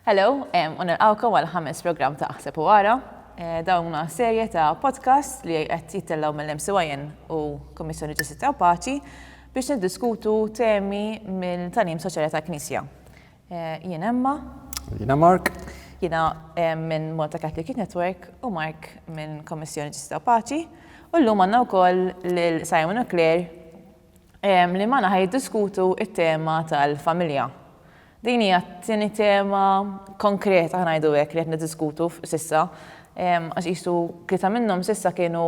Hello, u nilqgħukom għall-ħames programm ta' Aħseb u Ara. Dawn huma serje ta' podcasts li qed jittellgħu mill-MCYN u Kummissjoni Ġustizzja u Paċi biex niddiskutu temi minn tagħlim soċjali tal-Knisja. Jien Emma. Jiena Mark. Jiena minn Malta Catholic Youth Network u Mark minn Kummissjoni Ġustizzja u Paċi. U llum għandna wkoll lil Simon u Claire li magħna ħa jiddiskutu t-tema tal-familja. Din hija t-tieni tema konkreta ħa ngħidu hekk li qed niddiskutu s'issa għax qisu tlieta minnhom s'issa kienu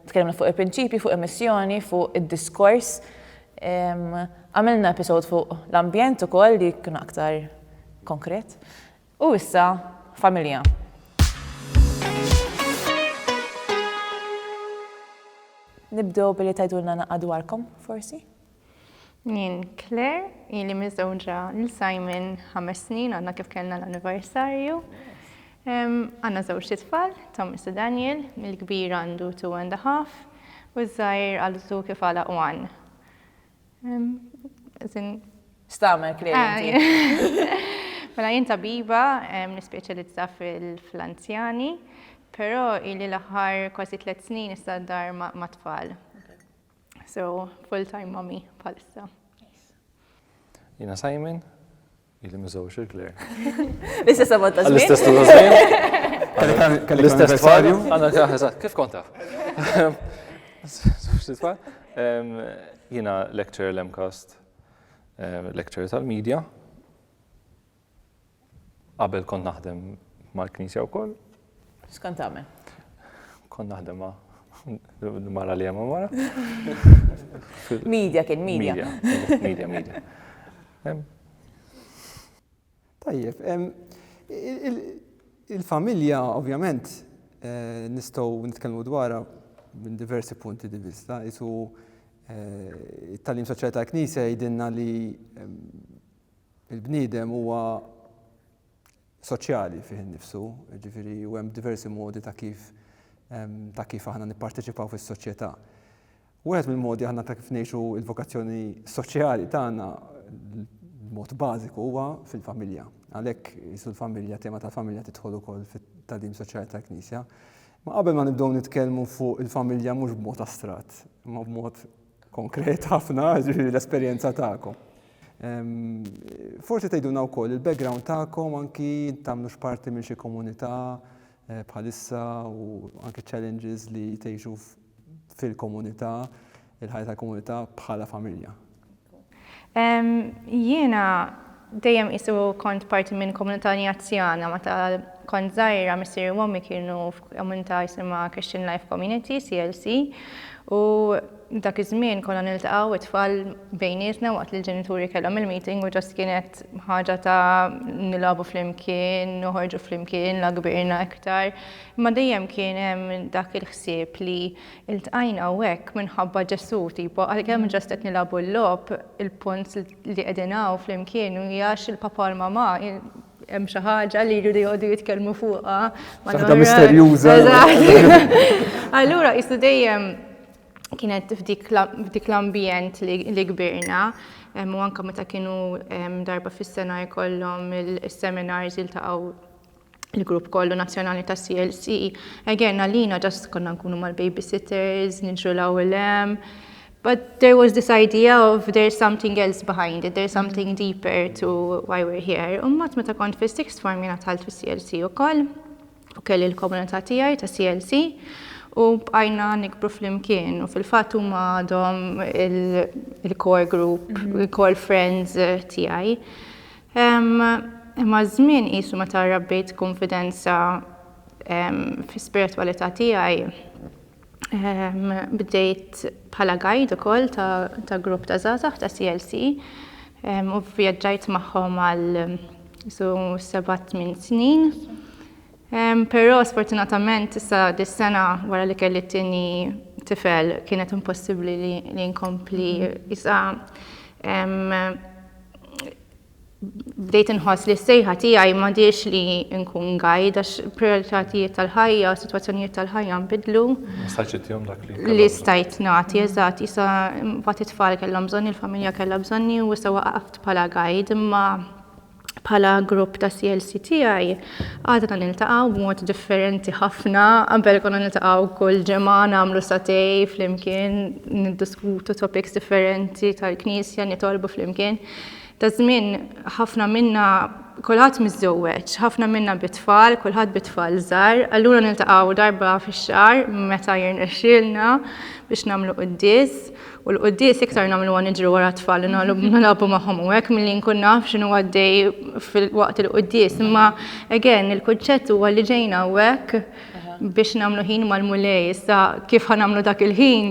tkellimna fuq il-prinċipji, fuq il-missjoni, fuq id-diskors. Għamilna episode fuq l-ambjent ukoll li kien aktar konkret. U issa familja. Nibdew billi tgħidulna naqgħa dwarkom, forsi? Jien Claire, ili miżewġa lil Simon ħames snin għandna kif kellna l-anniversarju. Għanna żewġ tfal, Thomas u Daniel, mill-kbir għandu two and a half, u ż-żgħir għal żu kif għala one. X'tagħmel klijenti? Mela jien tabiba nispeċjalizza fil-anzjani, però ili l-aħħar kważi tliet snin issa d-dar mat-tfal. So full-time mommy bħalissa. Jiena Simon, Ili miżaw xirkler. L-istess għamad ta' L-istess ta' zmin. L-istess tfal. Għanna ġaħħa, kif konta? Jina lecture l-MCAST, lecture tal-media. Qabel kont naħdem mal-Knisja wkoll, X'kont tagħmel? Kont naħdem ma' mara li hemm mara. Media kien media. Media, media. Tajjeb, il-familja ovvjament eh, nistgħu nitkellmu dwarha minn diversi punti di vista, jisu eh, it-talim soċjali tal-Knisja jidinna li il-bniedem huwa soċjali fih innifsu, jiġifieri u hemm diversi modi ta' kif ta' kif aħna nipparteċipaw fis-soċjetà. Wieħed mill-modi aħna ta' kif ngħixu l-vokazzjoni soċjali tagħna l-mod bażiku huwa fil-familja. Għalhekk isu l-familja, tema tal-familja tidħol ukoll fit-tagħlim soċjali tal-Knisja. Ma qabel ma nibdew nitkellmu fuq il-familja mhux b'mod astrat, ma b'mod konkret ħafna, ġifieri l-esperjenza tagħkom. Forsi tgħidulna wkoll il-background tagħkom anki tagħmlux parti minn xi komunità eh, bħalissa u anki challenges li tgħixu fil-komunità, il-ħajja tal-komunità bħala familja. Jiena dejjem isu kont parti minn komunità njazzjana meta kont żgħira missier u ommi kienu f'komunità jisimha Christian Life Community, CLC, u Dak iż-żmien konna niltaqgħu t-tfal bejnietna waqt li l-ġenituri kellhom il-meeting u ġast kienet ħaġa ta' nilagħbu flimkien, noħorġu flimkien la kbirna iktar. Imma dejjem kien hemm dak il-ħsieb li ltqajna hawnhekk minħabba Ġesù, tipo għalkemm ġast qed nilagħbu l-logħob, il-punt li qegħdin hawn flimkien hija għax il-Papà u l-Mamà Hemm xi ħaġa li jridu jgħodu jitkellmu fuqha. Ħaġa misterjuża. Allura qisu dejjem kienet f'dik l-ambjent li kbirna, u anke meta kienu darba fis-sena jkollhom il-seminars jiltaqgħu il-grupp kollu nazzjonali ta' CLC. Again, għalina ġast konna nkunu mal-babysitters, niġru l-ewwel hemm. But there was this idea of there's something else behind it, there's something deeper to why we're here. U mbagħad meta kont fi sixth form jiena tħalt fi CLC ukoll u kelli l-komunità tiegħi ta' CLC u bqajna nikbru flimkien u fil-fatt huma għadhom il-core group, mhm. il-core friends eh, tiegħi. Imma żmien qisu meta rabbejt konfidenza fi spiritualità tiegħi Bdejt bħala guide ukoll ta' grupp ta' żgħażagħ ta' CLC u vvjaġġajt magħhom għal su sebat minn snin. Però sfortunatament issa dis-sena wara li kelli t-tieni tifel kienet impossibbli li nkompli. Issa bdejt inħoss li s-sejħa tiegħi m'għadhiex li nkun gajd għax prioritajiet tal-ħajja, sitwazzjonijiet tal-ħajja nbidlu. Li stajt nagħti eżatt, issa mbagħad it-tfal kellhom bżonni, il-familja kellha bżonni u issa waqaft bħala gajd imma bħala grupp ta' CLC tiegħi għadna niltaqgħu b'mod differenti ħafna qabel konna niltaqgħu kull ġimgħa nagħmlu satej flimkien niddiskutu topics differenti tal-knisja nitolbu flimkien. Ta' żmien ħafna minna kulħadd miżżewweġ, ħafna minna bi tfal, kulħadd bi tfal żgħar, allura niltaqgħu darba fix-xahar meta jirnexxielna biex nagħmlu quddies, u l-quddies iktar nagħmluha niġru wara t-tfal u nilgħabu magħhom u hekk milli nkun naf x'inhu għaddej waqt il-quddies. Imma again, il-kunċett huwa li ġejna hawnhekk biex nagħmlu ħin mal-Mulej, issa kif ħa nagħmlu dak il-ħin,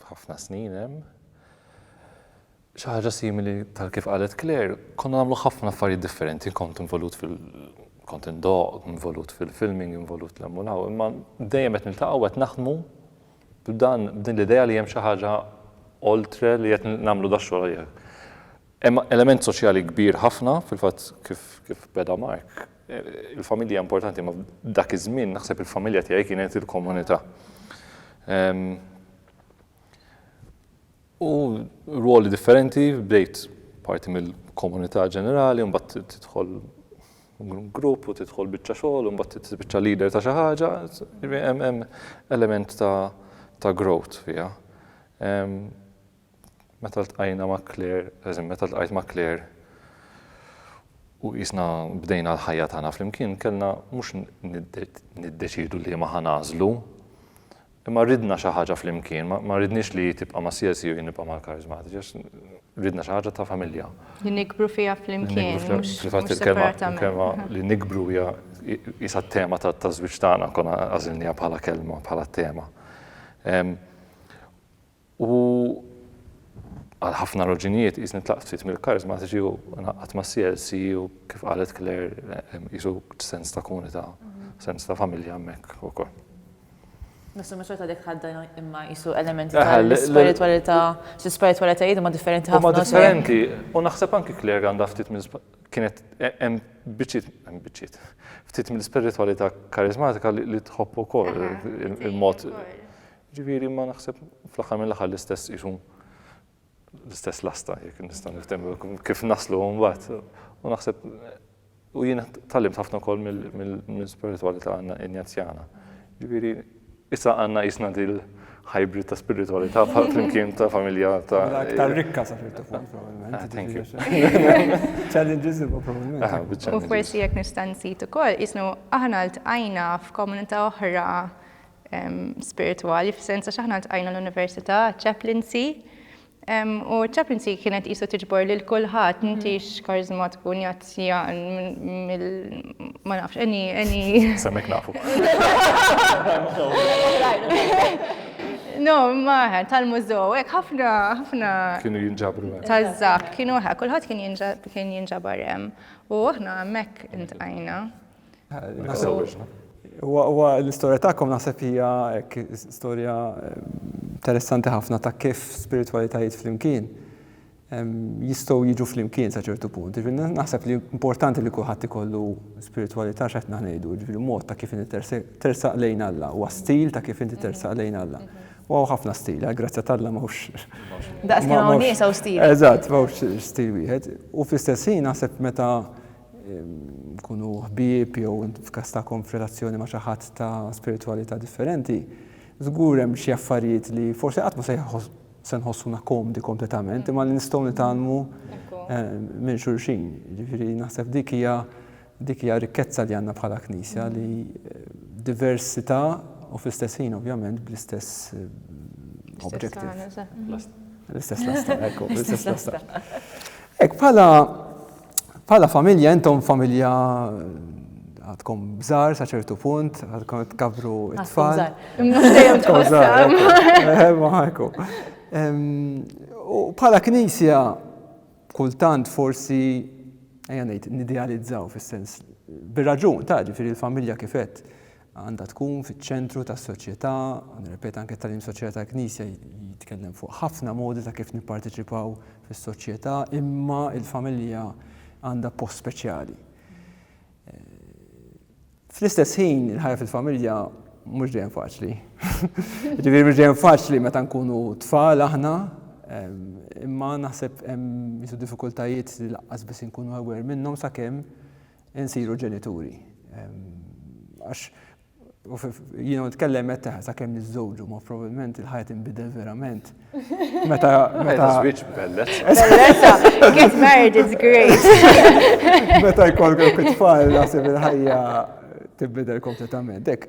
F'ħafna snin hemm. Xi ħaġa simili tal kif qalet Claire, konna nagħmlu ħafna affarijiet differenti, kont involut fil kont indoqq, involut fil-filming, involut l-hemm u l-hawn, imma dejjem qed niltaqgħu qed naħdmu b'dan b'din l-idea li hemm xi ħaġa oltre li qed nagħmlu dax-xogħol. Hemm element soċjali kbir ħafna, fil-fatt kif kif beda Mark, il-familja hija importanti imma f'dak iż-żmien naħseb il-familja tiegħi kienet il-komunità. U rwoli differenti, bdejt parti mill-komunità ġenerali, imbagħad tidħol grupp u tidħol biċċa xogħol u mbagħad tispiċċa leader ta' xi ħaġa, hemm element ta' ta' growth fiha. Meta ltqajna ma' Claire, pereżempju meta ltqajt ma' Claire u qisna bdejna l-ħajja tagħna flimkien, kellna mhux niddeċiedu liema ħa nagħżlu, imma ridna xi ħaġa flimkien, ma ridniex li hi tibqa' ma' CLC u jien nibqa' mal-Karismatiċi għax ridna xi ħaġa ta' familja. Li nikbru fiha flimkien. Fil-fatt il-kelma li nikbru hija qisha t-tema taż-żwieġ tagħna, konna għażilniha bħala kelma, bħala tema. U għal ħafna raġunijiet qisni tlaqt ftit mill-karizmatiċi u ngħaqqadt mas-CLC u kif qalet Claire qisu sens ta' komunità, sens ta' familja hemmhekk ukoll. Bess imma xorta dik ħadda imma qisu elementi ta' l-ispiritwalità, l-ispiritwalità jgħidu ma' differenti ħafna. Ma' differenti, u naħseb anki Claire għandha ftit minn kienet hemm biċċiet, hemm biċċiet, ftit mill-ispiritwalità karizmatika li tħobb ukoll il-mod Jiġifieri imma naħseb fl-aħħar mill-aħħar l-istess qisu l-istess lasta jekk nista' niftem kif naslu mbagħad. U naħseb u jiena tgħallimt ħafna wkoll mill-spiritwalità għandna injazzjana. Jiġifieri issa għandna jisna dil hybrid ta' spiritualità flimkien ta' familja ta' ta' rikka sa' fil ah, Thank you. Challenges imma probabbilment. Ah, u forsi jekk nista' nsit ukoll, isnu aħna ltqajna f'komunità oħra spiritwali, fis-sens għax aħna tqajna l-università, ċaplaincy, u ċaplaincy kienet qisu tiġbor lil kulħadd, m'intix mm. karizmatku, njazzjan, mill ma nafx, eni, eni. Semmek nafu. No, maħe, tal-mużow, ek ħafna, ħafna. Kienu jinġabru. Tazzak, kienu ħa, kullħat kien jinġabar hemm. U aħna hemmhekk intqajna. Huwa l-istorja tagħkom naħseb hija storja interessanti ħafna ta' kif spiritwalitajiet flimkien jistgħu jiġu flimkien sa ċertu punt. Naħseb li importanti li kulħadd ikollu spiritwalità x'qed ngħidu, ġifieri mod ta' kif inti tersaq lejn Alla, huwa stil ta' kif inti tersaq lejn Alla. U hawn ħafna stil, grazzi t'Alla m'hawnx. Daqs kemm hawn nies hawn stil. Eżatt, m'hawnx stil wieħed. U fl-istess ħin naħseb meta nkunu ħbieb jew f'każ tagħkom f'relazzjoni ma' xi ħadd ta' spiritwalità differenti, żgur hemm xi affarijiet li forsi qatt ma se nħossuna komdi kompletament, imma li nistgħu nitgħallmu minn xulxin. Jiġifieri naħseb dik hija dik hija rikkezza li għandna bħala Knisja li diversità u fl-istess ħin ovvjament bl-istess objective. L-istess lasta, ekku, l-istess lasta. Hekk bħala Bħala familja, intom familja għadkom bżar sa ċertu punt, għadkom tkabru it-tfal. U bħala knisja, kultant forsi, għajanajt, nidealizzaw fil-sens, bir-raġun, ta' ġifiri l-familja kifet, Għandha tkun fiċ-ċentru tas-soċjetà, u nirrepeti anke t-tagħlim soċjali tal-Knisja jitkellem fuq ħafna modi ta' kif nipparteċipaw fis-soċjetà, imma l-familja għandha post speċjali. Fl-istess ħin, il-ħajja fil-familja mhux dejjem faċli. Ġifieri mhux dejjem faċli meta nkunu tfal aħna, imma naħseb hemm jisu diffikultajiet li laqqas biss inkunu aware minnhom sakemm insiru ġenituri. Għax jiena nitkellem qed teħa sakemm niżżewġu, ma probabbilment il-ħajja tinbidel verament. Meta meta żwieġ bellet. Get married it's great. Meta jkollok it-tfal naħseb il-ħajja tinbidel kompletament. Dek,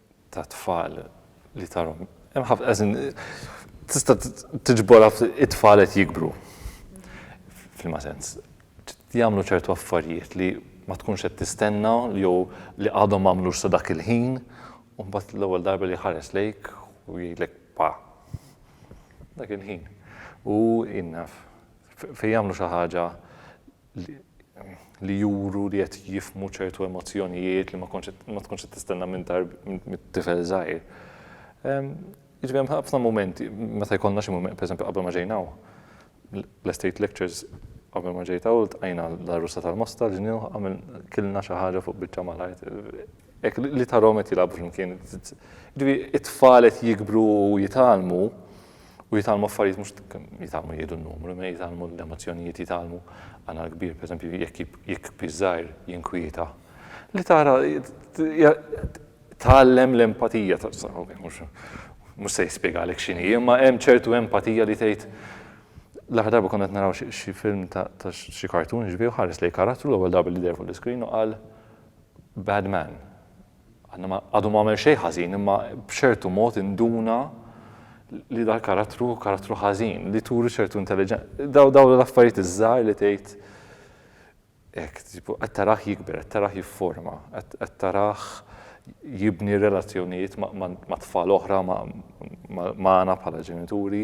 ta' tfal li tarhom hemm ħafna as in tista' tiġborha it-tfal qed jikbru f'liema sens. Jagħmlu ċertu affarijiet li ma tkunx qed tistenna jew li għadhom ma għamlux sa dak il-ħin u mbagħad l-ewwel darba li jħares lejk u jgħidlek pa. Dak il-ħin. U jien naf fejn jagħmlu xi ħaġa li juru li qed jifhmu ċertu emozzjonijiet li ma tkunx qed tistenna minn tifel żgħir. Jiġifieri hemm ħafna mumenti meta jkollna xi mument, pereżempju qabel ma ġejna hawn, l-estate lectures qabel ma ġejt hawn ltqajna l-għarusa tal-mosta, l-ġnieħ, kilna xi ħaġa fuq biċċa malajr. Hekk li tarahom qed jilgħabu flimkien. Jiġifieri it-tfal qed jikbru u jitgħallmu u jitgħallmu affarijiet mhux jitgħallmu jgħidu n-numru, imma jitgħallmu l-emozzjonijiet, jitgħallmu għan għall-kbir, pereżempju jekk jekk iż-żgħir jinkwieta. Li tara tgħallem l-empatija, mhux se jispjegalek x'inhi, imma hemm ċertu empatija li tgħid l-aħħar darba konna qed naraw xi film ta' xi kartun jiġifieri u ħares lejn karattru l-ewwel darba li deher fuq l-iskrin u qal Bad man. Għadu ma għamel xejn ħażin imma b'ċertu mod induna li dal-karattru hu karattru ħażin, li turi ċertu intelliġenza. Daw daw l-affarijiet iż-żgħar li tgħid hekk, tiġifieri qed tarah jikber, qed tarah jifforma, qed tarah jibni relazzjonijiet ma' tfal oħra, magħna bħala ġenituri,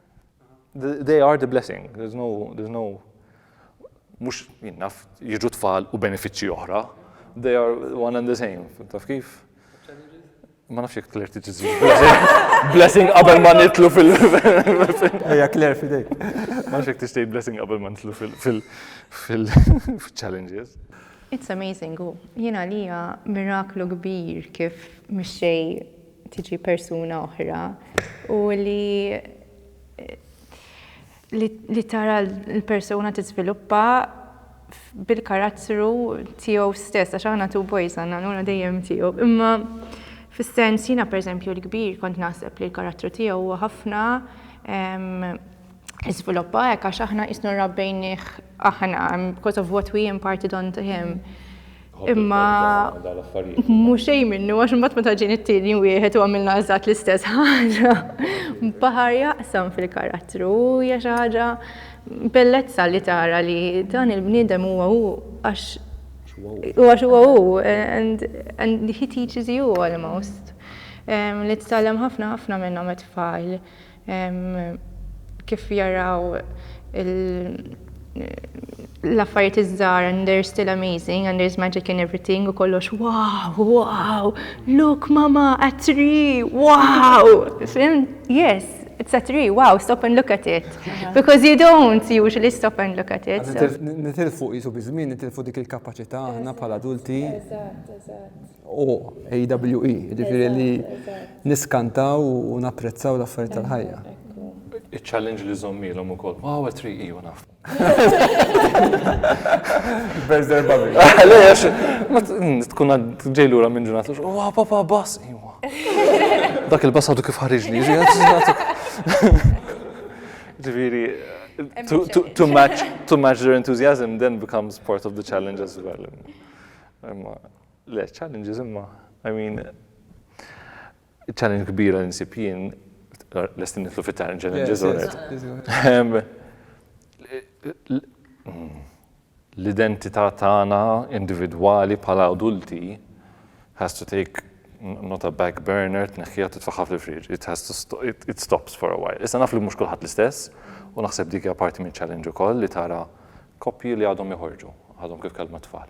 They are the blessing, there's no, there's no, mux jinnaf jiġu tfal u benefiċċi oħra, they are one and the same, taf kif? Ma nafx jek Claire tiġi Blessing qabel ma nitlu fil- Eja, Claire fidej. Ma nafx jek tiġi blessing qabel ma nitlu fil-challenges. It's amazing, u jina lija miraklu kbir kif mxej tiġi persuna oħra u li li tara l-persuna tiżviluppa bil-karattru tiegħu stess, għax aħna tu boys għandna l dejjem tiegħu. Imma fis-sens jiena pereżempju l-kbir kont naħseb li l-karattru tiegħu huwa ħafna iżviluppa hekk għax aħna qisnu rabbejnih aħna because of what we imparted on to him. Imma mhux xejn minnu għax imbagħad meta ġien it-tieni wieħed u għamilna eżatt l-istess ħaġa. Baħar jaqsam fil-karattru hija xi ħaġa bellezza li tara li dan il-bniedem huwa hu għax huwa huwa hu and he teaches you almost. Li tsallem ħafna ħafna minnhom it-tfal. kif jaraw l-affarijiet iż-żgħar and they're still amazing and there's magic in everything u kollox wow wow look mama a tree wow fimt yes it's a tree wow stop and look at it because you don't usually stop and look at it. Nitilfu qisu biż-żmien nitilfu dik il-kapaċità aħna bħala adulti. Eżatt eżatt. u AWE, jiġifieri li niskantaw u napprezzaw l-affarijiet tal-ħajja. Iċ-challenge li żommilhom ukoll. Wow, a tree, iva naf. Vers darba minn. Għaliex, ma tkun ġej lura minn ġurnata, wow, papa, bass, iwa. Dak il-bass għadu kif ħariġni, ġifieri, to match their enthusiasm then becomes part of the challenge as well. Le, challenges imma, I mean, challenge kbira li nsib jien, lest nitlu fit challenges unet. L-identità tagħna individwali bħala adulti has to take not a back burner, tneħħiha titfaħħa fil-friġ. It has to, it stops for a while. Issa naf li mhux kulħadd l-istess u naħseb dik hija parti minn challenge ukoll li tara koppji li għadhom joħorġu, għadhom kif kellhom it-tfal.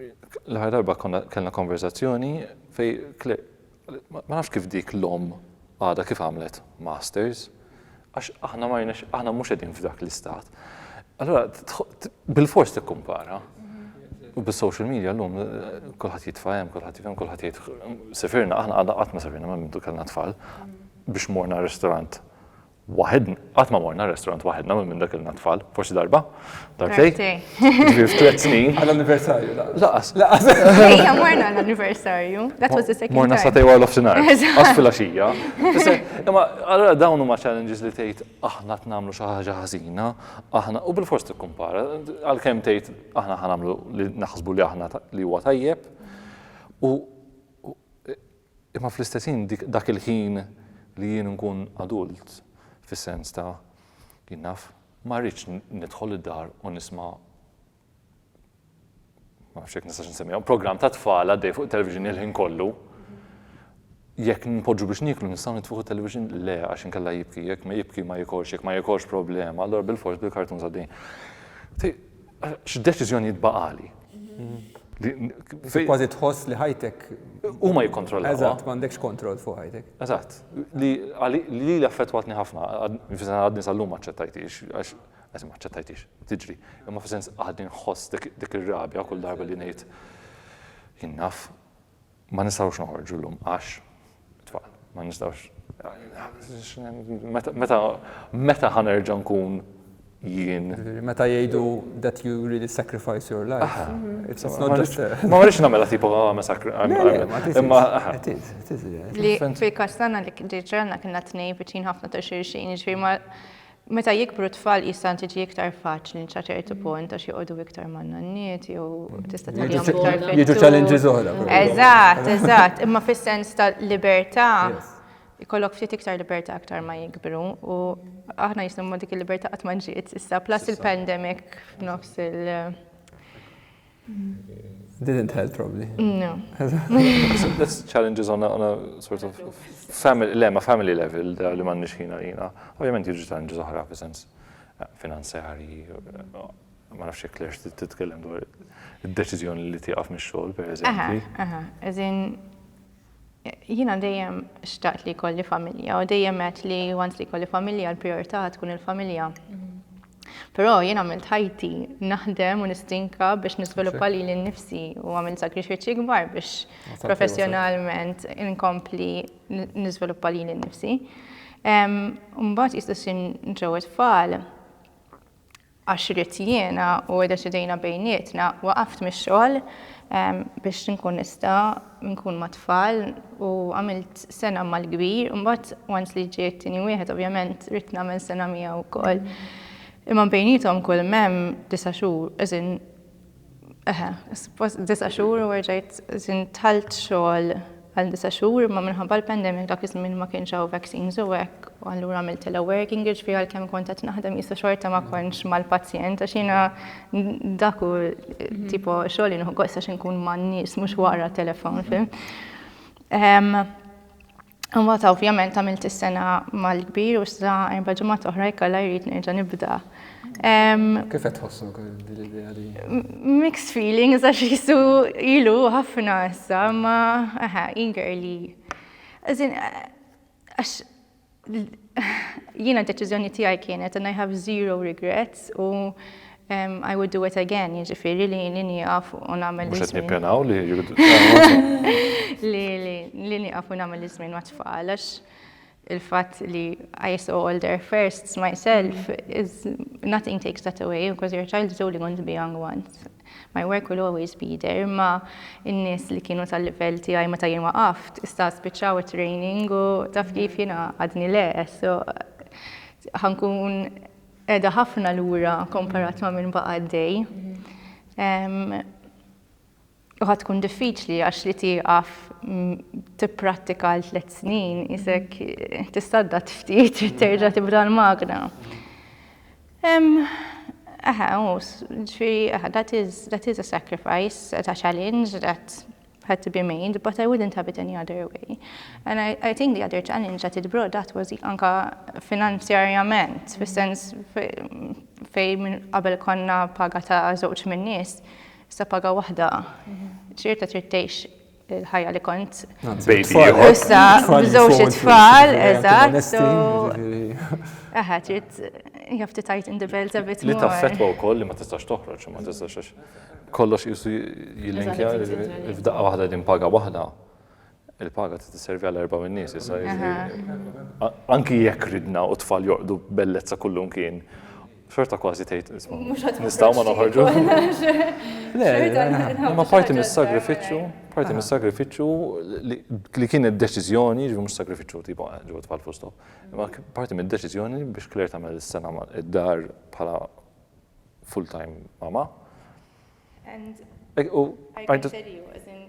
L-aħħar darba kellna konverzazzjoni fej ma nafx kif dik l-omm għadha kif għamlet masters għax aħna ma rnex aħna mhux qegħdin f'dak l-istat. Allora bil-fors tikkumpara. U bis-social media llum kulħadd jitfa' hemm, kulħadd jifhem, kulħadd jgħid sefirna aħna għadha qatt ma sefirna ma mintu kellna tfal biex morna ristorant waħedna, qatt ma morna restaurant waħedna minn dak il-na tfal, forsi darba, darbtej. Ġifieri f'tliet snin. Għall-anniversarju, laqas. Laqas. Ejja, morna għall-anniversarju. That was the second time. Morna sa tejwa l-ofsinar. Għas fil-axija. Imma, allora dawn huma challenges li tgħid aħna tnamlu xi ħaġa ħażina, aħna u bil-forsi tikkumpara, għalkemm tgħid aħna ħanamlu li naħsbu li aħna li huwa tajjeb. U Imma fl-istess ħin dak il-ħin li jien nkun adult, fis-sens ta' jien naf, ma rridx nidħol id-dar u nisma' ma nafx jekk nistax insemmihom, programm ta' tfal għaddej fuq it-television il-ħin kollu. Jekk npoġġu biex nieklu nistgħu nitfuħ it-television? Le, għax inkella jibki, jekk ma jibki ma jikolx, jekk ma jikolx problema, allura bil-fors bil-kartun għaddejjin. X'deċiżjonijiet baqgħali? Fejn kważi tħoss li ħajtek huma jikkontrollaw. Eżatt, m'għandekx kontroll fuq ħajtek. Eżatt. Li li affettwatni ħafna, fis-sens għadni sal-lum ma ċċettajtix, għax eżi ma ċċettajtix, tiġri. Imma fis-sens għadni nħoss dik ir-rabja kull darba li ngħid jien naf Ma nistgħux noħorġu llum għax, tfal, ma nistgħux. Meta meta ħa nerġa' nkun jien. Meta jgħidu that you really sacrifice your life. Ma marriċ nagħmilha tipo ah, ma sacrifice. Imma Li fil-każ tagħna li ġejna kienna tnej viċin ħafna ta' xulxin, jiġri ma Meta jikbru t-tfal jista' tiġi iktar faċli sa ċertu punt għax joqogħdu iktar man-nanniet jew tista' tagħtihom iktar fit. Jiġu challenges oħra. Eżatt, eżatt, imma fis-sens ta' libertà jkollok ftit iktar libertà aktar ma jikbru u aħna jisimgħu dik il-libertà qatt ma ġiet issa plus il-pandemic f'nofs il- Didn't help probably. No. That's challenges on a, on a sort of family, le, ma family level li ma nixħina jina. Ovvijament jiġu challenges oħra, per sens eh, finanzjari, eh, ma nafx jek lex titkellem dwar id-deċizjoni li tiqaf mix xogħol per eżempju. Aha, eżin jina dejjem xtaqt li kolli familja u dejjem għet li għant li kolli familja l-priorità tkun il-familja. Mm. Però jien għamilt ħajti naħdem u nistinka biex niżviluppa li l-nifsi u għamilt sakrifiċi kbar biex professjonalment inkompli niżviluppa li l-nifsi. Mbagħad jistess nġewet tfal għax rrit jiena u deċidejna bejnietna waqaft mix-xogħol biex nkun nista' Nkun mat-tfal u għamilt sena mal-kbir, imbagħad once li ġej it-tieni wieħed ovvjament ridt nagħmel sena miegħu wkoll. Imma bejniethom kull ma hemm disa' xhur, as in eħe, suppost disa' xhur u erġajt, as in dħalt xogħol għal disa' xhur imma minħabba l-pandemic dak iż-żmien ma kienx hawn vaccines u hekk u allura għamilt teleworking, jiġifieri għalkemm kont qed naħdem qisu xorta ma kontx mal-pazjent għax jiena Dak u mhm. tipo xogħol li nħu kosta xinkun ma' nies mhux wara telefon, fim. Mbagħad ovvjament għamilt is-sena mal-kbir u sa erba' ġimgħat oħra jkollha jrid nerġa' nibda. Kif qed tħossu l-idea li? Mixed feelings għax jisu ilu ħafna issa, ma eħe, eagerly. Għax Jiena d-deċiżjoni tiegħi kienet and I have zero regrets u I would do it again, jiġifieri li li nieqaf u nagħmel. Mhux qed nippjanaw li Li nieqaf u nagħmel iż-żmien ma' tfal għax il-fatt li I saw all their firsts myself is nothing takes that away because your child is only going to be young once. My work will always be there imma n-nies li kienu tal-livell tiegħi meta jien waqaft issa spiċċaw it-training u taf kif jiena għadni le so ħa nkun qiegħda ħafna lura komparat ma' min baqa' għaddej. U ħa tkun diffiċli għax li tieqaf tipprattika għal tliet snin isek tistadda ftit terġa' tibda l-magna. Ehm, eħe, u, ġifieri, eħe, that is, that is a sacrifice, that's a challenge that had to be made, but I wouldn't have it any other way. And I, I think the other challenge that it brought that was anka finanzjarjament, fis-sens fej minn qabel konna paga ta' żewġ minn nies, sa paga waħda, ċirta trid tgħix il-ħajja li kont. Bejt ieħor. Issa, bżewx it-tfal, eżatt. Eħe, trid jafti tajt in the belt a bit. Li taffetwa wkoll li ma tistax toħroġ, ma tistax kollox jisu jillinkja f'daqqa waħda din paga waħda. Il-paga t tisservi għal erba' minn nies issa. Anki jekk ridna u tfal jorqdu bellezza kullum kien Xorta kważi tgħid isma'. Nistgħu ma noħorġu. Le, ma parti mis-sagrifiċċju, parti mis-sagrifiċċju li kien id-deċiżjoni, ġifu mhux sagrifiċċju tipo eh, ġifu tfal fustom. Ma parti mid-deċiżjoni biex Claire tagħmel is-sena id-dar bħala full-time mama. And I can tell you, as in,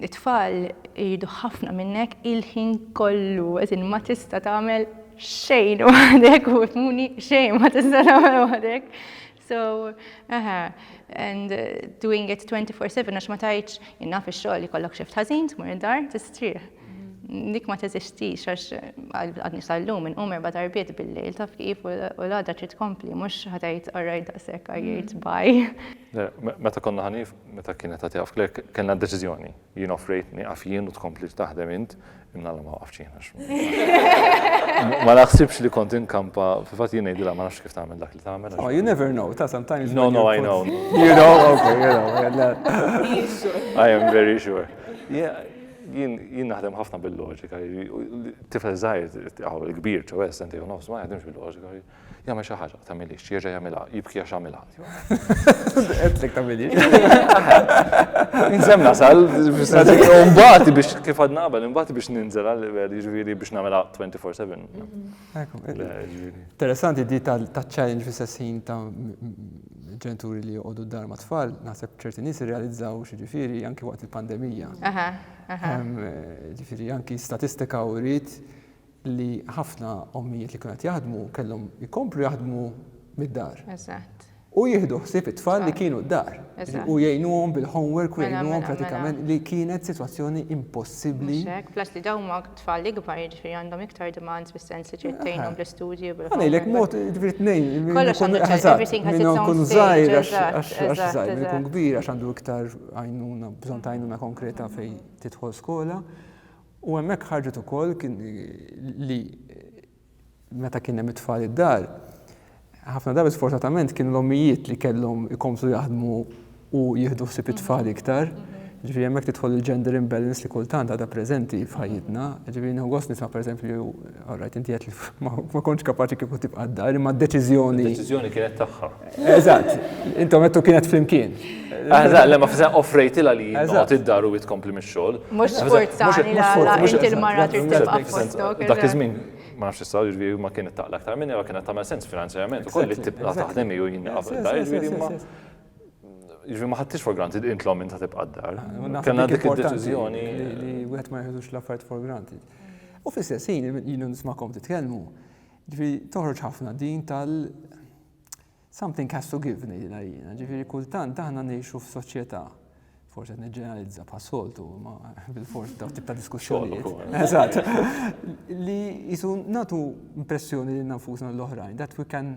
It-tfal iridu ħafna minnek il-ħin kollu, għazin ma tista tagħmel xejn waħdek u fmuni xejn ma tista tagħmel waħdek. So, aha, and uh, doing it 24-7 għax ma tajċ jenna fi xogħol li kollok xift ħażin tmur id-dar tistrieħ. Mm-hmm. Dik ma teżistix għax għadni sal-lum minn umer badarbiet bil-lejl taf kif u l-għada trid tkompli mhux ħatajt orraj daqshekk għajjejt mm-hmm. baj. Meta konna ħanif meta kienet għad tieqaf Claire, kellna d-deċiżjoni. Jien offrejt nieqaf jien u tkompli taħdem int, imma Alla ma waqafx jien għax. Ma naħsibx li kont inkampa, fil-fatt jien ngħidilha ma nafx kif tagħmel dak li tagħmel. Oh, you never know, ta' sometimes. No, no, I know. You know, okay, you know. I am very sure. Jien naħdem ħafna bil-loġika, tifel żgħir, il-kbir, ċewes, senti u nofs, ma jaħdimx bil-loġika. Jagħmel xi ħaġa, tagħmilix, jerġa' jagħmilha, jibki għax għamilha. Qedlek tagħmilix. Inżemna sal, mbagħad biex kif għad naqbel, mbagħad biex ninżel għal livell jiġifieri biex nagħmilha 24/7. Interessanti di tal-challenge fis-sessin ta' ġenturi li joqogħdu d-dar ma' tfal, naħseb ċerti nies irrealizzaw ġifieri anki waqt il-pandemija. Ġifieri anki statistika u rrit li ħafna ommijiet li kienu qed jaħdmu kellhom ikomplu jaħdmu mid-dar. Eżatt. U jieħdu ħsieb it-tfal li kienu d-dar. U jgħinuhom bil-homework u mela, jgħinuhom mela, pratikament mela. li kienet sitwazzjoni impossibbli. Plus li dawn ma tfal ikbar jiġifieri għandhom iktar demands bis-sens li trid tgħinhom bl-istudju. Ngħidlek mod ġifieri tnejn. Kollox għandu everything has its own stage. Għax żgħir minn ikun kbir għax għandu iktar għajnuna, bżonn ta' għajnuna konkreta fejn tidħol skola. U hemmhekk ħarġet ukoll kien li meta kien hemm it-tfal id-dar, ħafna drabi sfortunatament kienu l-ommijiet li kellhom ikomplu jaħdmu u jieħdu ħsieb it-tfal iktar. Ġifieri hemmhekk tidħol il-gender imbalance li kultant għadha preżenti f'ħajjitna. Ġifieri nieħu gost nisma' pereżempju All right, inti għet ma konċ kapaċi kieku tibqa d-dar, imma d-deċizjoni. Deċizjoni kienet tagħha. Eżatt, intom għettu kienet flimkien. Eżatt, le ma fisa offrejti la li jgħat id-dar u jitkompli mix-xogħol. Mhux sforzani la inti l-mara tibqa' fostok. Dak iż-żmien ma nafx issa ġifieri ma kienet taqla aktar minni ma kienet tagħmel sens finanzjarjament ukoll li tibqa' taħdem jew jien naqaf id-dar ġifieri ma ġifieri ma ħadtix for granted intlhom inta tibqa' d-dar. Kellna dik id-deċiżjoni li wieħed ma jħeżux l-affarijiet for granted. U fl-istess ħin, jien nismakom titkellmu, ġifieri toħroġ ħafna din tal something has to give ngħidilha jiena, ġifieri kultant aħna ngħixu f'soċjetà forse qed niġġeneralizza bħas soltu ma bil-fors daw tip ta' diskussjonijiet. Eżatt. Li jisu natu impressjoni li nafusna l-oħrajn that we can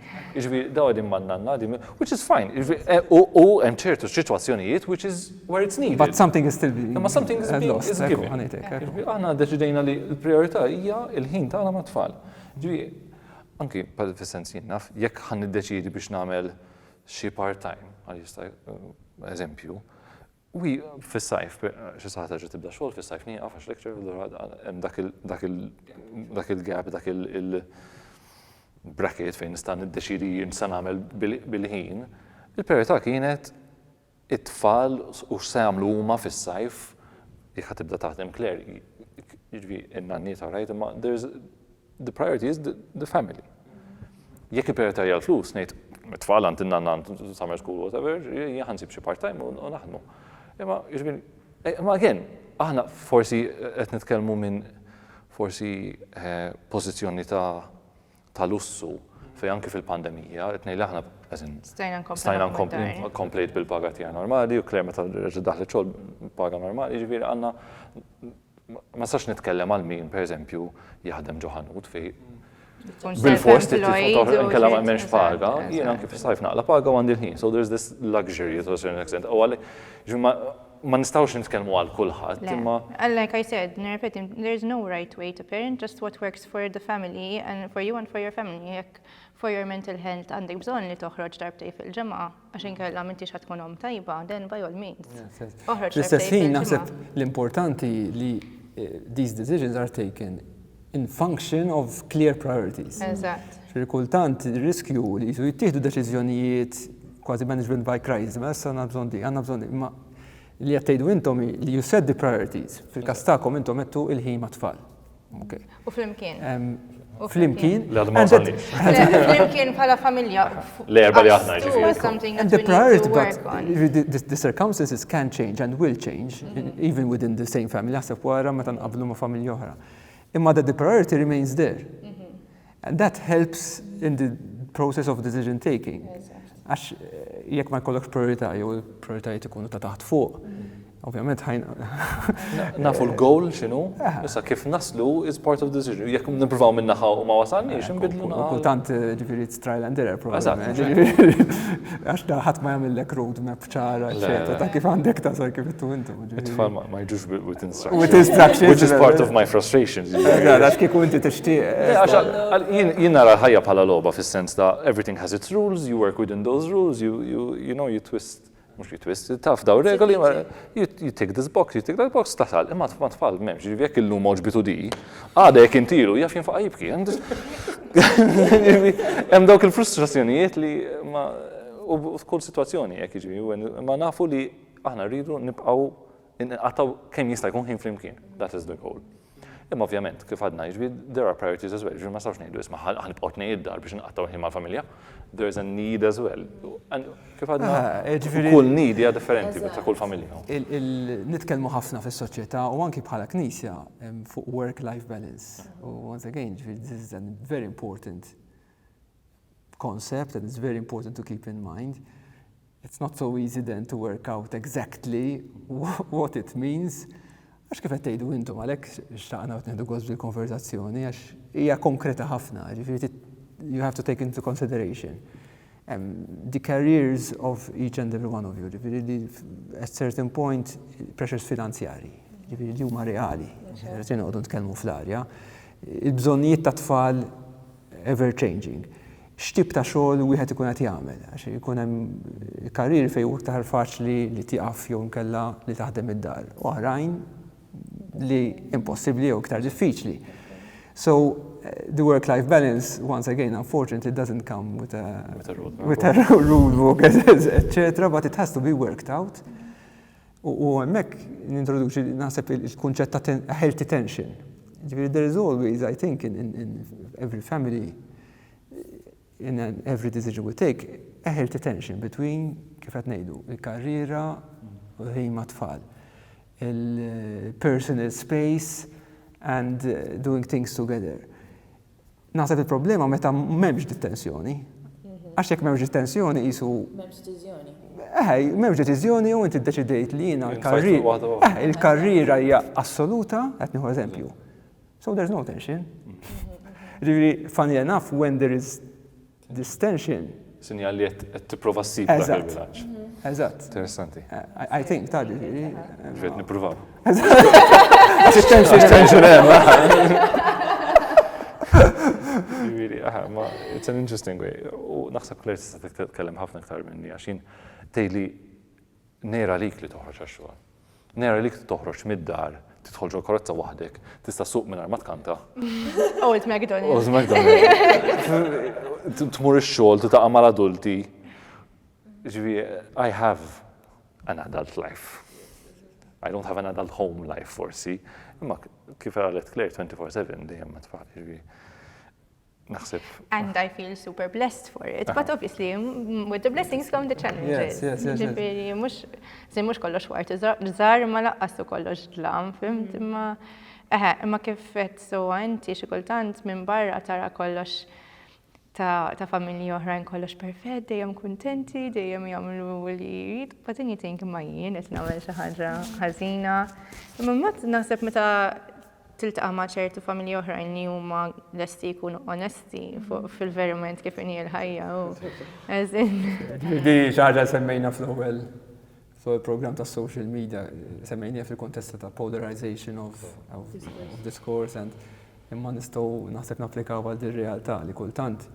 Jiġifieri dawn qegħdin man-nanna, qegħdin which is fine. Jiġifieri, u hemm ċertu sitwazzjonijiet which is where it's needed. But something is still being. Imma something is being is given. Jiġifieri aħna ddeċidejna li l-prijorità hija l-ħin tagħna mat-tfal. Jiġifieri anki bħal fis-sens jien naf jekk ħa niddeċiedi biex nagħmel xi part-time, għal jista' eżempju, U hi fis-sajf, xi saħħa terġa' tibda xogħol fis-sajf nieqaf għax lecture, allura hemm dak il-gap, dak il-bracket fejn nista' niddeċiedi x'se nagħmel bil-ħin. Il-prijorità kienet it-tfal u x'se jagħmlu huma fis-sajf jekk ħa tibda taħdem Claire. Jiġifieri n-nanniet all right, imma there's The priority is the, the family. Jekk il-priorita hija l-flus, ngħid, it-tfal għand in-nanna summer school whatever, jien xi part-time u naħdmu. Imma jiġifieri, eh, imma again, aħna forsi qed nitkellmu minn forsi eh, pożizzjoni ta' ta' lussu fej anki fil-pandemija, qed ngħid aħna stajna nkomplejt bil-paga tiegħi normali u klem meta daħlet xogħol paga normali, jiġifieri għandna Ma nistax nitkellem għal min, per eżempju, jaħdem ġo ħanut fej bil-fost nkella ma menx paga, jien anki fis-sajf naqla paga għandi l-ħin, so there's this luxury to a certain extent. U għalek, ma nistawx nitkellmu għal kulħadd, imma. Like I said, nirrepeti, there's no right way to parent, just what works for the family and for you and for your family. Jekk for your mental health għandek bżonn li toħroġ darbtej fil-ġimgħa, Għax inkella m'intix ħa tkun omm tajba, then by all means. Oħroġ L-istess ħin naħseb l-importanti li eh, these decisions are taken in function of clear priorities. Eżatt. Fil-kultant riskju li jisu jittieħdu deċiżjonijiet kważi management by crisis, ma issa għandna bżonn di, għandna bżonn ma li jattejdu intom li you set the priorities fil-kastakom intom ettu il-ħin ma tfal. U flimkien. Flimkien. Flimkien bħala familja. L-erba li aħna ġifiri. And the priority, but the, the circumstances can change and will change, mm-hmm. even within the same family. Għasab wara ma tanqablu ma familja oħra. Imma that the priority remains there. Mm-hmm. And that helps in the process of decision taking. Għax jekk ma jkollokx priorità jew il-prioritajiet ikunu ta' taħt fuq, ovvjament ħajn. Nafu l-goal x'inhu, issa kif naslu is part of the decision. Jekk nippruvaw minn naħa u ma wasalniex inbidlu. U kultant ġifieri it's trial and error probablement. Għax ħadd ma jagħmillek road map ċara, ċerta, ta' kif għandek ta' sar kif ittu intu. Tfal ma jġux with instructions. With instructions. Which is part of my frustrations. Għax kif inti tixtieq. Eh, jien nara ħajja bħala loba fis-sens ta' everything has its rules, you work within those rules, you know, you twist mux jitwist, taf daw regoli, jittik this box, jittik that box, tasal, imma ma tfal, memx, ġivjek jekk il-lum oġbitu di, għada jek intilu, jaf jinfaqa jibki, jem dawk il-frustrazzjonijiet li ma U f'kull sitwazzjoni hekk jiġri, imma nafu li aħna rridu nibqgħu inqatgħu kemm jista' jkun ħin flimkien. That is the goal. Imma ovvjament, kif għadna, jiġri there are priorities as well, jiġri ma nistgħux ngħidu isma' ħanibqgħu tnej id-dar biex inqattgħu ħin mal-familja. There is a need as well. Kif għadna, ah, eh, kull need hija differenti ta' kull familja. Nitkellmu ħafna fis-soċjetà u anki bħala knisja fuq work-life balance. U once again, this is a very important concept that it's very important to keep in mind. It's not so easy then to work out exactly what it means. Għax kif qed tgħidu intom għalhekk xtaqna qed nieħdu gost bil-konverzazzjoni għax hija konkreta ħafna, ġifieri you have to take into consideration um, the careers of each and every one of you, ġifiri li at certain point pressures finanzjari, ġifiri li huma reali, ġifiri għodun tkellmu fl-arja, il-bżonnijiet ta' tfal ever changing, x'tip ta' xogħol wieħed ikun qed jagħmel, għax ikun hemm career fejn hu iktar faċli li tieqaf jew inkella li taħdem mid-dar, u oħrajn li impossibbli jew iktar diffiċli. So the work-life balance, once again, unfortunately, doesn't come with a, with a rule book, etc., but it has to be worked out. U hemmhekk nintroduċi naħseb il-kunċett ta' healthy tension. Ġifieri there is always, I think, in, in, in every family, in every decision we take, a healthy tension between, kif qed ngħidu, il-karriera u l-ħin ma' tfal. Il-personal space and doing things together. Naħseb il-problema meta m'hemmx dit-tensjoni. Għax jekk m'hemmx dit-tensjoni qisu. M'hemmx deċiżjoni. Eħe, m'hemmx deċiżjoni u inti ddeċidejt li jiena l-karriera. Eħe, il-karriera hija assoluta, qed nieħu eżempju. So there's no tension. Ġifieri, funny enough, when there is distension. Sinjal li qed tipprova ssib dak il-bilanċ. Eżatt. Interessanti. I think ta' di. Ġed nippruvaw. Distension. Distension hemm. Really, aha, ma it's an interesting way. U naħseb Claire tista' titkellem ħafna iktar minni għax jien tgħidli Ngħir għalik li toħroġ għax-xogħol. Ngħir għalik li toħroġ mid-dar, tidħol ġol-karozza waħdek, tista' ssuq mingħajr ma tkanta. Old McDonald. Old McDonald. Tmur ix-xogħol, titaqa' mal-adulti. Ġifi, I have an adult life. I don't have an adult home life forsi, imma kif għalet Claire 24/7 dejjem ma tfaq, ġifi. naħseb. And I feel super blessed for it, but obviously with the blessings come the challenges. Ġifiri, mux, zin mux kollox wartu, zar ma laqqas u kollox dlam, fimt, mm. imma, eħe, imma kifet so għanti xikultant minn barra tara kollox ta' familji oħrajn kollox perfett, dejjem kontenti, dejjem jagħmlu li jrid, but then you think ma jien qed nagħmel xi ħaġa ħażina. Imma mat naħseb meta tiltaqa' ma' ċertu familji oħrajn li huma lesti jkunu onesti fuq fil-verament kif inhi l-ħajja u as in. Di xi ħaġa li semmejna fl-ewwel fuq il-programm ta' social media semmejnieh fil-kontesta ta' polarization of, of, of discourse and imma nistgħu naħseb napplikaw għal din realtà li kultant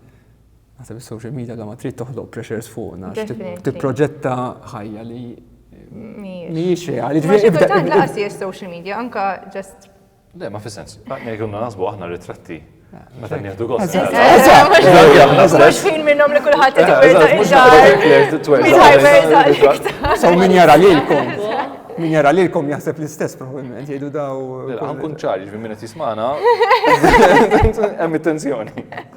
Naħseb is-social media dama trid toħloq pressures fuqna, tipproġetta ħajja li mhijiex reali. Kultant laqas hija social media, anka ġest. Le, ma fis-sens, ngħid kunna naħsbu aħna ritratti. Meta nieħdu gost. Mhux fin minnhom li kulħadd Saw min jara lilkom. Min jara lilkom jaħseb l-istess probabbilment jgħidu daw. Għankun ċar, jiġri minn qed jismana. Hemm it-tensjoni.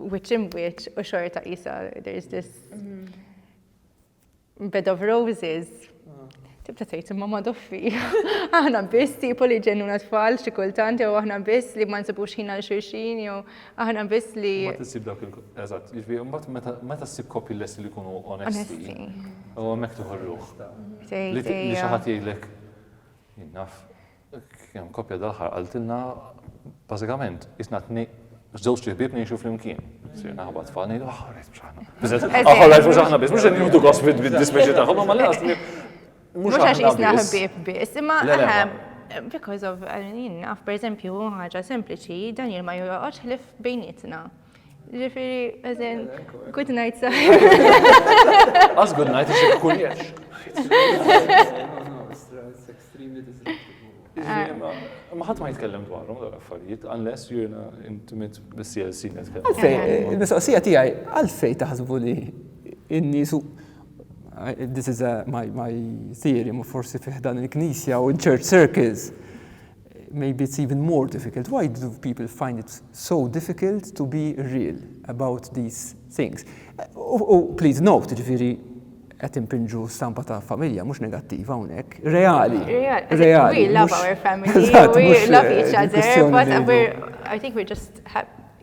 wiċċ imwiċċ u xorta qisha there is this bed of roses. Tibda tgħid imma ma doffi. Aħna biss tipu li ġennuna tfal xi kultant jew aħna biss li ma nsibux ħin għal xulxin jew aħna biss li. Ma tisib dak il eżatt, jiġifieri mbagħad meta ssib koppji lesti li jkunu onesti. U hemmhekk tuħorruh. Li xi ħadd jgħidlek naf Kemm koppja dal-aħħar qaltilna bażikament qisna żewġt iħbieb ngħixu flimkien. Sir naħba tfal ngħidu aħħar rajt mhux aħna. Aħħar rajt mhux aħna biss, mhux qed nieħdu gost bid-dispeċi tagħhom, ma laqas mhux għax isna ħbieb biss, imma because of għalin naf pereżempju ħaġa sempliċi Daniel ma joqgħodx ħlif bejnietna. Ġifiri, eżin, good night, sa. As good night, ixi kun jiex. Maħat ma jitkellem dwarhom dwar affarijiet, unless you're in an intimate CLC nitkellem. Għalfej, il-mistoqsija tiegħi, għalfej taħsbu li n-nies this is a, my, my theory, forsi fiħdan il-knisja u in church circles, Maybe it's even more difficult, why do people find it so difficult to be real about these things? U please note, ġifieri qed impinġu stampa ta' familja mhux negattiva hawnhekk, reali. Reali. We love our family, we love each other, but I think we're just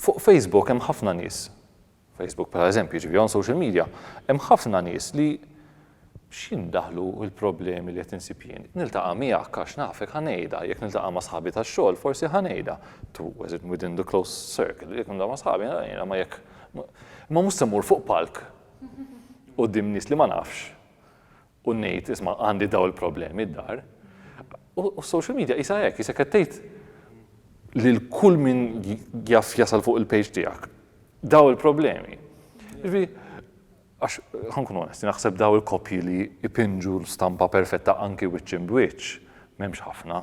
Fuq Facebook hemm ħafna nies, Facebook bħala eżempju, jiġifieri on social media, hemm ħafna nies li x'jindaħlu l-problemi li qed insib jien. Niltaqa' miegħek għax nafek ħa ngħidha, jekk niltaqa' ma' sħabi tax-xogħol forsi ħa ngħidha to as in within the close circle, jekk niltaqa' ma' sħabi ħa ngħidha imma jekk imma mhux se mmur fuq palk quddiem nies li ma nafx u ngħid isma' għandi dawn il-problemi d-dar, u s-social media qisha hekk, qisek qed tgħid lil kull min jaf jasal fuq il-page tiegħek dawn il-problemi. Jiġifieri, għax ħankun onesti, naħseb dawn il-koppji li jpinġu l-stampa perfetta anki wiċċ imb'wiċċ m'hemmx ħafna.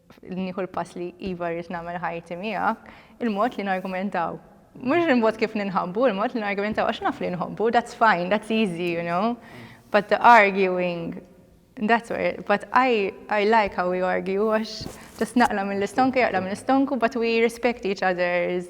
nieħu l-pass li iva rrid nagħmel ħajti miegħek, il-mod li nargumentaw. Mhux il-mod kif ninħabbu, il-mod li nargumentaw għax naf li nħobbu, that's fine, that's easy, you know. But the arguing, that's where, but I, I like how we argue, għax just naqla mill-istonku, jaqla mill-istonku, but we respect each other's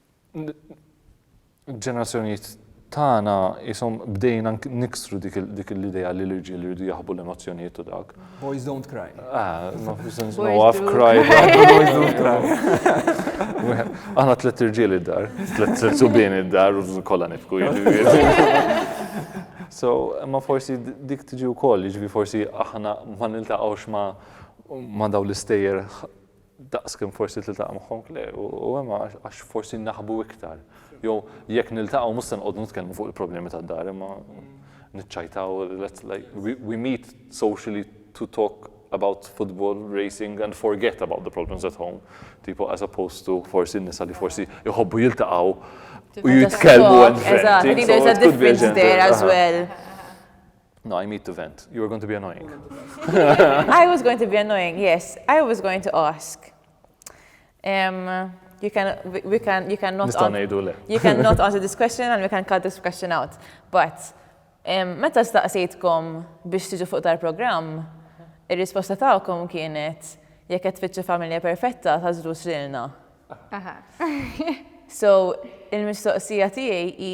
ġenerazzjonijiet tagħna ishom bdejna niksru dik l-idea li l-irġiel iridu jaħbu l-emozzjonijiet u dak. Boys don't cry. Ah, ma fi sens no off cry. Boys don't cry. Aħna tliet irġiel id-dar, tliet subien id-dar u kollha nifku So, ma forsi dik tiġi wkoll, jiġri forsi aħna ma niltaqgħux ma' daw l-istejjer daqs kemm forsi tiltaqa' magħhom Claire u Emma għax forsi naħbu iktar. Jew jekk niltaqgħu mhux se nqogħdu nitkellmu fuq il-problemi tad-dar imma niċċajtaw let's like we, we meet socially to talk about football, racing and forget about the problems at home. Tipo as opposed to forsi n-nisa li forsi jħobbu jiltaqgħu u jitkellmu and Exactly, there's a difference there as well. No, I need to vent. You were going to be annoying. I was going to be annoying, yes. I was going to ask. Um, you can, we, we can, you cannot, answer, you cannot answer this question and we can cut this question out. But, um, meta staqsejtkom biex tiġu fuq tal-programm, ir-risposta tagħkom kienet jekk qed tfittxu familja perfetta tażlu xrilna. So, il-mistoqsija tiegħi hi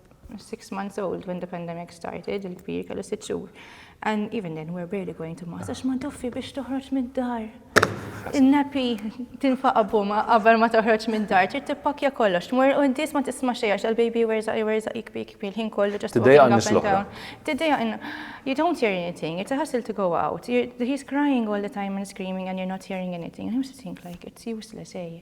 six months old when the pandemic started, il-kbir kellu sitt xhur. And even then we're barely going to mass, għax ma toffi biex toħroġ mid-dar. Il-napi tinfa qabbuma qabel ma toħroġ mid-dar, trid tippakja kollox, tmur u dis ma tisma' xejn għax il-baby werza werza ikbi kbir ħin kollu ġast. Tiddeja nisloħra. Tiddeja you don't hear anything, it's a hassle to go out. He's crying all the time and screaming and you're not hearing anything. I used to think like it's useless, eh?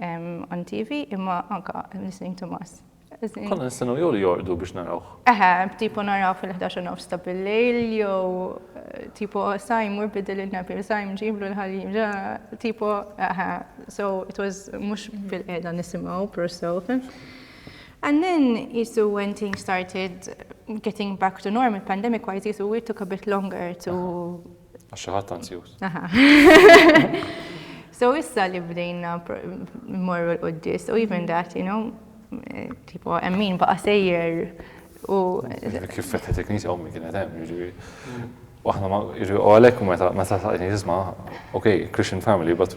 on TV, imma anka I'm listening to mass. Konna nistanu jew li jordu biex narawh. Eħe, tipo naraw fil-11 nofs ta' bil-lejl, jew eh, tipo sajm u bidil il-napir, sajm ġiblu l-ħalim, tipo, eħe, so it was mux bil-qeda nisimaw, per so. And then jisu when things started getting back to normal, pandemic wise jisu it took a bit longer to Għax xi ħadd anzjuż. So issa li bdejna mmorru l-quddis, u even that, you know, eh, tipo, emmin baqa sejjer u. Kif fetħet il-knisja ommi kienet hemm, jiġifieri. U aħna ma, jiġifieri, u għalhekk meta meta taqni tisma', okay, Christian family, but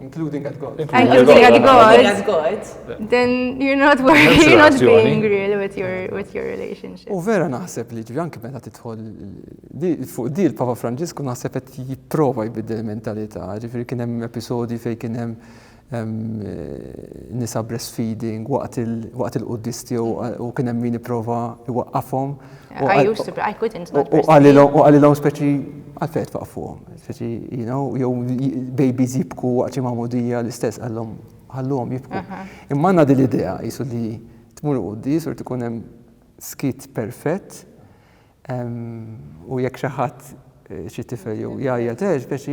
Including at God. Including at God. Then you're not working, you're not being real with your, with your relationship. U vera naħseb li ġivi anke meta titħol fuq di l-Papa Franġisku naħseb qed jipprova jbiddel il-mentalità. Ġifieri kien hemm episodi fejn kien hemm nisa breastfeeding waqt il-quddis tiegħu u kien hemm min ipprova iwaqqafhom. U għalilhom speċi għalfejn twaqqfuhom. Speċi, you know, jew babies jibku waqt xi magħmudija l-istess għallhom ħalluhom jibku. Imma għandna din l-idea jisu li tmur quddis u tkun hemm skit perfett u jekk xi ħadd eh, xi tifel jew jgħajja teġ biex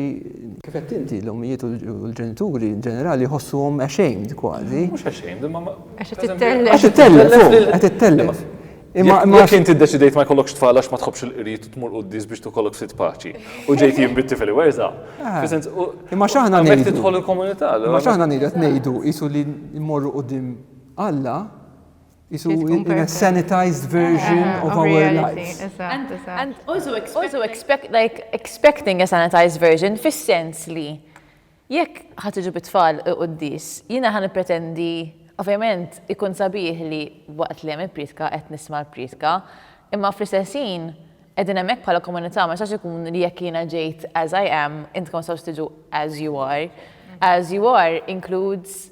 kif qed inti l-ommijiet u l-ġenituri in ġenerali jħossuhom ashamed kważi. Mhux ashamed, imma għax ittellef. Għax ittellef, qed ittellef. Imma jekk inti ddeċidejt ma jkollokx tfal għax ma tħobbx il-qrid u tmur quddis biex tkollok sitt paċi u ġejt jien bit-tifel iwerża. Eh. Imma x'aħna ngħidu. tidħol il-komunità. Imma x'aħna ngħidu qed ngħidu qisu li mmorru quddiem Alla Isu in a sanitized version eh, eh, of our lives. And also expecting a sanitized version fis-sens li Jekk ħa tiġu bit-tfal il-quddies, jiena ħa nippretendi, ovvjament ikun sabiħ li waqt li hemm il-prietka qed nisma' l-prietka, imma fl-istess ħin qegħdin hemmhekk bħala komunità ma jistax ikun li jekk jiena ġejt as I am, intkom ma tistgħux tiġu as you are. As you are includes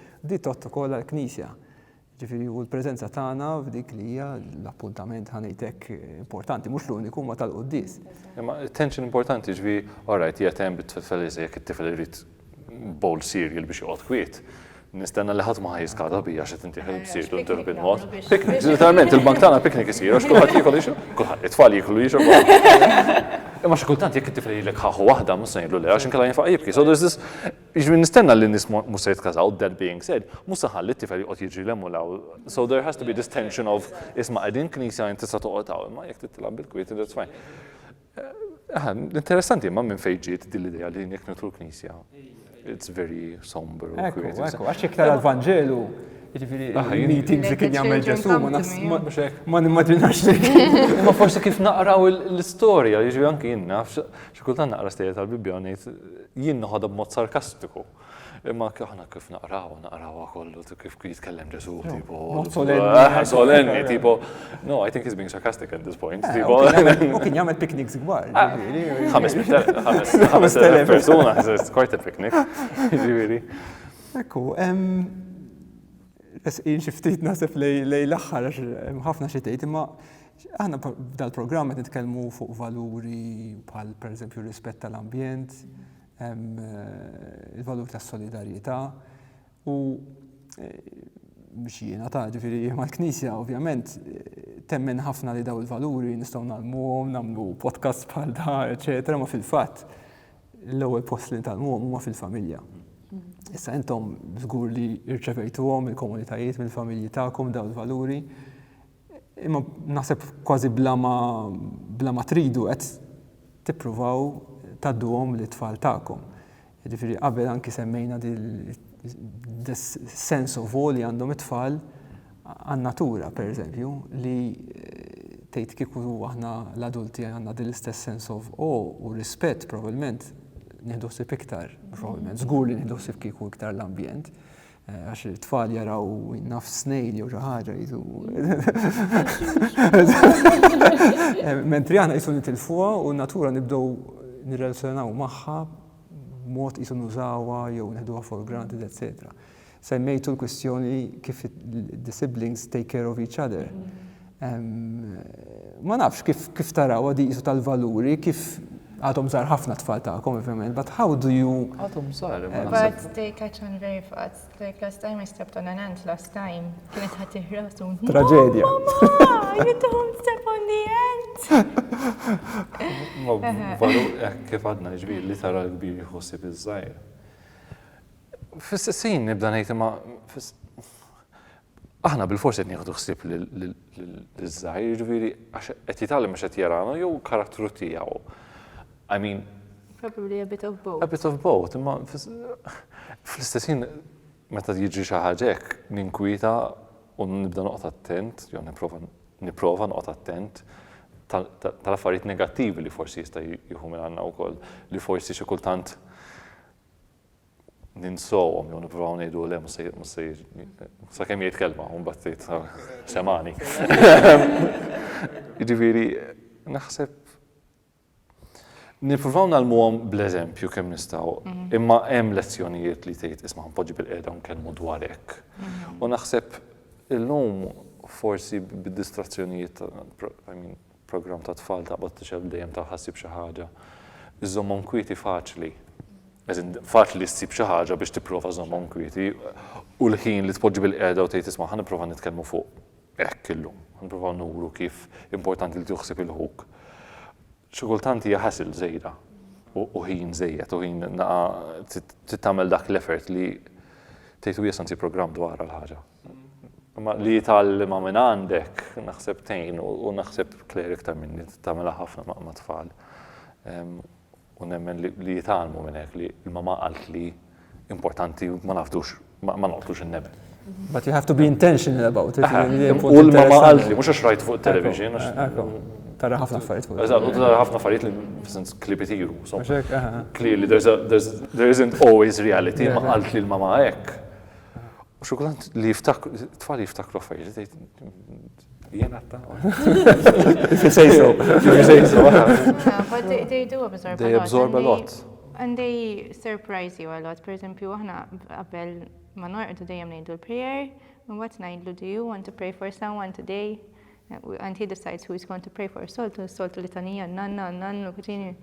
Di tgħodd ukoll għall-Knisja, ġifieri u l-preżenza tagħna f'dik li hija l-appuntament ħa ngħid hekk importanti, mhux l-uniku ma tal-quddies. Imma tension importanti, ġifieri all right qiegħed hemm bit-tifel iżda jekk it-tifel irid bowl cereal biex joqgħod kwiet, nistenna li ħadd ma ħa jiskata bija għax qed intih il-bsiert u ntih bil-mod. Picnic, literalment il-bank tagħna picnic isir għax kulħadd jiekol jixrob, kulħadd it-tfal jieklu jixrob. Imma xi kultant jekk it-tifel jgħidlek ħa ħu waħda mhux se ngħidlu le għax inkella jinfaq jibki. So there's this Jiġifieri nistenna li n-nies mhux se jitkażaw, that being said, mhux se nħalli t-tifel joqgħod jiġri 'l hemm u 'l hawn. So there has to be this tension of isma' qegħdin knisja int tista' toqgħod hawn imma jekk trid tilgħab bil-kwiet that's fine. Aha, interessanti imma minn fejn ġiet din l-idea li jekk nidħlu l-knisja it's very somber u Ekku, kwiet. ekku, għax jekk tara l-Vanġelu, jiġifieri Aha, jien- il-meetings li kien Let the jagħmel children Ġesù come ma to nas- me. ma- Mhux hekk. ma nimmaġinax li Imma forsi kif naqraw l-istorja, jiġifieri anki jien naf Xi kultant naqra stejjer tal-Bibbja u ngħid, jien noħodha b'mod sarkastiku. Imma aħna kif naqrawha, naqrawha kollu kif jitkellem Ġesu, tipo. Ah, solenni, tipo. No, I think he's being sarcastic at this point. Eh, tipo. U kien jagħmel picnics kbar. Ah, ħames ħames persuna, it's quite a picnic. Ġifieri. Ekku, jien xi ftit naħseb lej l-aħħar ħafna xi tgħid, imma Aħna f'dal-programm qed nitkellmu fuq valuri bħal pereżempju r-rispett tal-ambjent, il-valur tas-solidarjetà u biex jiena ta' ġifieri mal-Knisja ovvjament temmen ħafna li dawn il-valuri nistgħu ngħallmuhom, nagħmlu podcast bħal da, eċċetera, ma fil-fatt l-ewwel post li ntgħallmuhom huma fil-familja. Issa intom żgur li rċevejtuhom il-komunitajiet mill-familji tagħkom dawn il-valuri. Imma naħseb kważi bla ma bla ma tridu qed tippruvaw tgħadduhom lit-tfal tagħkom. Jiġifieri qabel anki semmejna this sense of awe li għandhom it-tfal għan-natura, pereżempju, li tgħid kieku aħna l-adulti għandna din l-istess sense of awe u rispett probabbilment nieħdu ħsieb iktar, probabbilment, żgur li nieħdu ħsieb kieku iktar l-ambjent. Għax it-tfal jaraw naf snejl jew xi ħaġa jisu. Mentri aħna jisu nitilfuha u natura nibdew nirrelazzjonaw magħha mod jisu nużawha jew neħduha for granted, etc. Semmejtu l-kwistjoni kif the siblings take care of each other. Ma nafx kif tarawha di qisu tal-valuri, kif għadhom żgħar ħafna t-tfal tagħkom ovvjament, but how do you Għadhom żgħar imma naħseb. But they catch on very fast. Like last time I stepped on an ant last time. Kienet ħa tiħrad u. Traġedja. Mama! You don't step on the ant! Kif għadna ġbir li tara l-kbir jieħu ħsieb iż-żgħir. Fis-sissin nibda ngħid imma aħna bilfors qed nieħdu ħsieb liż-żgħir, jiġifieri għax qed jitgħallem għax qed jarana jew karattru tiegħu. I mean Probably a bit of both. A bit of both, imma fl-istess ħin meta jiġri xi ħaġa hekk ninkwieta u nibda noqgħod attent, jew nipprova nipprova noqgħod attent tal-affarijiet negattivi li forsi jista' jieħu minn għandna wkoll li forsi xi kultant ninsowhom jew nippruvaw ngħidu le mhux se sakemm jgħid kelma u mbagħad tgħid ah, semani. Jiġifieri naħseb Nipruvaw nalmuhom bl-eżempju kemm nistgħu, mhm. imma hemm lezzjonijiet li tgħid isma' npoġġi bil-qiegħda nkellmu dwar hekk. Mhm. U naħseb illum forsi bid-distrazzjonijiet Programm tat-tfal taqbad tixgħel dejjem tagħha ssib xi ħaġa. Żżommhom kwieti faċli. As in, faċli li ssib xi ħaġa biex tipprova żżommhom kwieti u l-ħin li tpoġġi bilqiegħda u tgħid isma' ħa nipprova nitkellmu fuq hekk illum. Ħa nipprovaw nuru kif importanti li tieħu ħsieb il-ħuk. Xi kultant hija hassle żejda u ħin żejjed u ħin naqa' trid tagħmel dak l-effort li tgħid u hija se nsib programm dwarha l-ħaġa. Imma li jitgħallima minn għandek naħseb tgħin u naħseb Claire iktar minni tagħmilha ħafna ma' tfal. U nemmen li jitgħallmu minn hekk li l-mamma qalt li importanti ma nafdux ma noqtlux in-nebel. But you have to be intentional about it. U l-mamma qalt li mhux għax rajt fuq television. Tara ħafna affarijiet fuq. Eżatt, u tara ħafna affarijiet li sens klipi tiru. Clearly there isn't always reality, ma qalt li l-mamma hekk. U xi kultant li jiftakru, tfal jiftakru affarijiet li tgħid jiena ta'. Sejsu, sejsu. They absorb a lot. And they surprise you a lot. Per esempio, aħna qabel ma norqdu dejjem ngħidu l-prayer, u għat ngħidlu do you want to pray for someone today? And he decides who is going to pray for soltu, soltu li tanija, nanna, nannu, kuċini.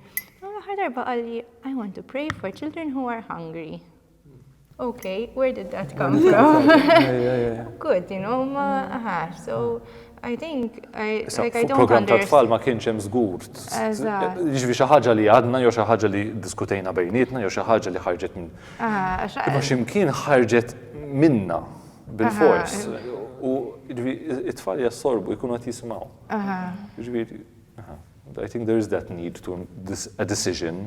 Għal darba għalli, I want to pray for children who are hungry. Okay, where did that come from? Good, you know, ma, aha, so I think, I, like I don't Program ta' tfal ma kienx hemm żgur. Jiġri xi ħaġa li għadna jew xi ħaġa li diskutejna bejnietna jew xi ħaġa li ħarġet minn. Imma x'imkien ħarġet minna bil-fors. U it-tfal jassorbu jkunu qed jisimgħu. Jiġri, I think there is that need to a decision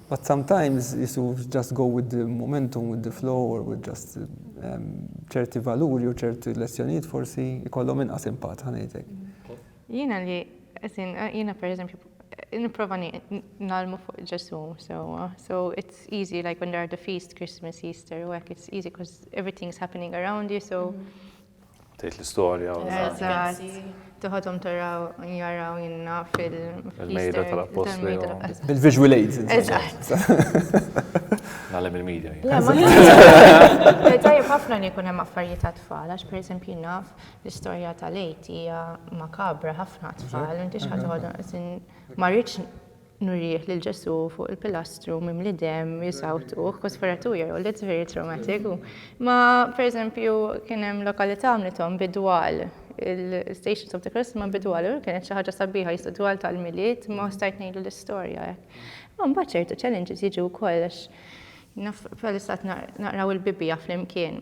But sometimes qisu just go with the momentum, with the flow or with just ċerti valuri u ċerti lezzjonijiet forsi jkollhom inqas impatt, ħa ngħid hekk. Jiena li, as in, jiena per eżempju, nipprova ngħallmu fuq Ġesù sewwa. So it's easy like when there are the feasts, Christmas, Easter u hekk, it's easy coz everything is happening around you so. Tgħid l-istorja. Eżatt. Tiħodhom taraw jaraw jinna fil-mejda tal-appostli. Bil-visual aids. Eżatt. Nagħlem il-medja. Tajjeb ħafna li jkun hemm affarijiet għat-tfal, għax pereżempju naf l-istorja tal-lejt hija makabra ħafna tfal, inti x'ħadd ma rridx nurih lil Ġesù fuq il-pilastru mimli demm u jsawtuh, kważi fergħetuja, jew that's very traumatic. Ma pereżempju kien hemm lokalità għamlithom bid-dwal, il-Stations of the Cross ma bid-dwal, u kienet xi ħaġa sabiħa jista' dwal tal-Milied, ma stajt ngħidlu l-istorja hekk. Ma mbagħad ċertu challenges jiġu wkoll għax naf bħalissa qed naqraw il-Bibbja flimkien.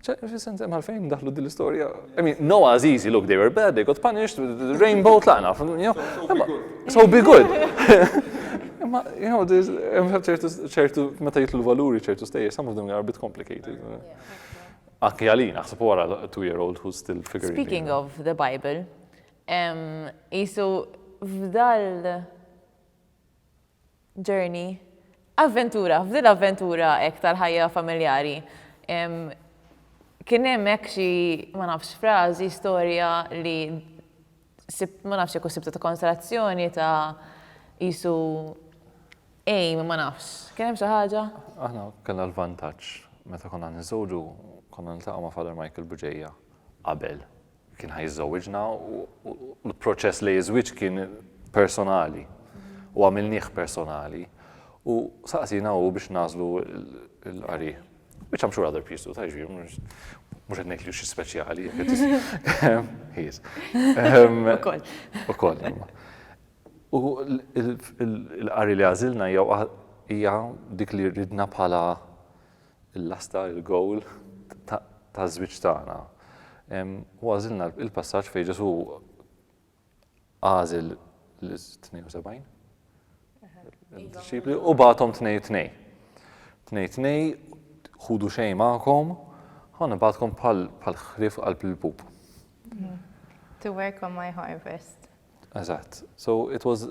Fissent, għalfejn daħlu din l-istorja. I mean, no as easy, look, they were bad, they got punished, the rainbow tlaqna. So be good. Ma, you know, there's, ċertu, meta jitlu valuri ċertu stejjer, some of them are a bit complicated. Anki għalina, xsab wara two-year-old who's still figuring. Speaking of the Bible, jisu f'dal Journey. Avventura. F'din l-avventura hekk tal-ħajja familjari, kien hemm hekk xi, ma nafx, frażi, storja li sibt, ma nafx jekk u sibtha ta' konsolazzjoni, ta' qisu aim, ma nafx. Kien hemm xi ħaġa? Aħna kellna l-vantaġġ meta konna niżżewġu konna niltaqgħu ma' Father Michael Bugeja qabel. kien ħa jiżżewwiġna u l-proċess li jiżwieġ kien personali u għamilnieh personali u saqsina u biex nażlu l-qari. Which I'm sure other people ta' ġviri, mux għed nekli xie speċjali. Hiz. Ukoll. Ukoll. U l-qari li għazilna hija dik li ridna bħala il-lasta, il-goal taż-żwieġ tagħna. U għażilna l-passaġġ fejn Ġesù għażil l-72 disċipli u bagħathom tnej tnej. Tnej tnej ħudu xejn magħkom, ħa nibgħatkom bħal ħrif qalb il-bub. To work on my harvest. Eżatt. So it was,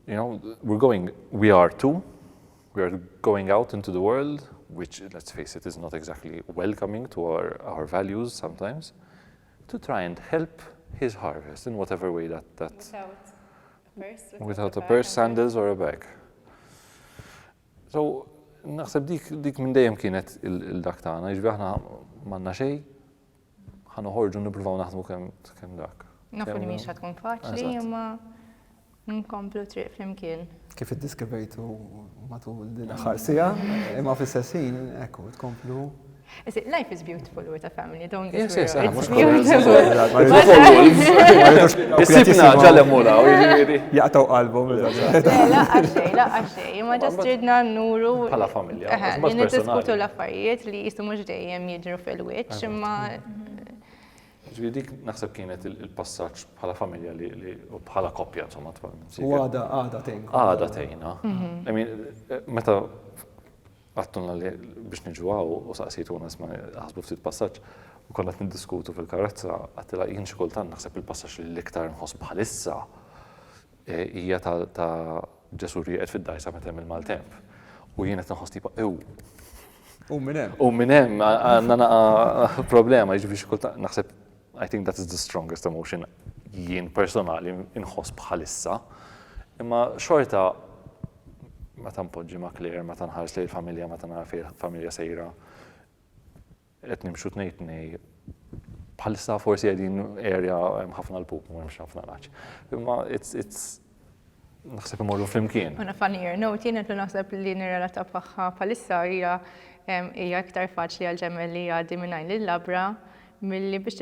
you know, we're going, we are too, we are going out into the world, which, let's face it, is not exactly welcoming to our, our values sometimes, to try and help his harvest in whatever way that... that without a purse, without, without a, a purse, sandals or a bag. So, naħseb dik, dik minn dejjem kienet il-dak tagħna, jiġri aħna m'għandna xejn, Ħa noħorġu nippruvaw naħdmu kemm dak. Nafu li mhix tkun faċli, imma nkomplu triq flimkien. Kif iddiskrivejtu matul din aħħar sija, imma fl-istess ħin, ekku, tkomplu. Is it life is beautiful with a family, don't get me wrong. Mux Isibna ġal-emula, u jġiri. Jaqtaw qalbom. La, għaxej, la, għaxej, imma ġastridna n-nuru. Bħala familja. Niddiskutu l-affarijiet li jistu mux dejjem jidhru fil-wiċċ imma Ġifieri dik naħseb kienet il-passaġġ bħala familja li u bħala koppja insomma tfal. U għada għada tgħin. Għada tgħinha. I mean, meta għattuna li biex niġu għaw u saqsituna isma ħasbu ftit passaġġ u konna qed niddiskutu fil-karozza għattila jien xi kultant naħseb il-passaġġ li l-iktar nħoss bħalissa Hija ta' ta' Ġesù rieqed fid-dgħajsa meta hemm il-maltemp. U jien qed nħoss tipa ew. U minn hemm. U minn hemm għandna naqa' problema, jiġifieri xi kultant naħseb I think that is the strongest emotion jien personali nħoss bħalissa. Imma xorta meta npoġġi ma' Claire, meta nħares lejn il-familja, meta nara fejn il-familja sejra, Qed nimxu tnej tnej. Bħalissa forsi qegħdin area hemm ħafna l-pup, m'hemmx ħafna l-għaġ. Imma it's it's naħseb imorru flimkien. Una funnier note jien qed naħseb li nirrelata bħaħħa bħalissa hija hija iktar faċli għal ġemel li jgħaddi mingħajr il-labra milli biex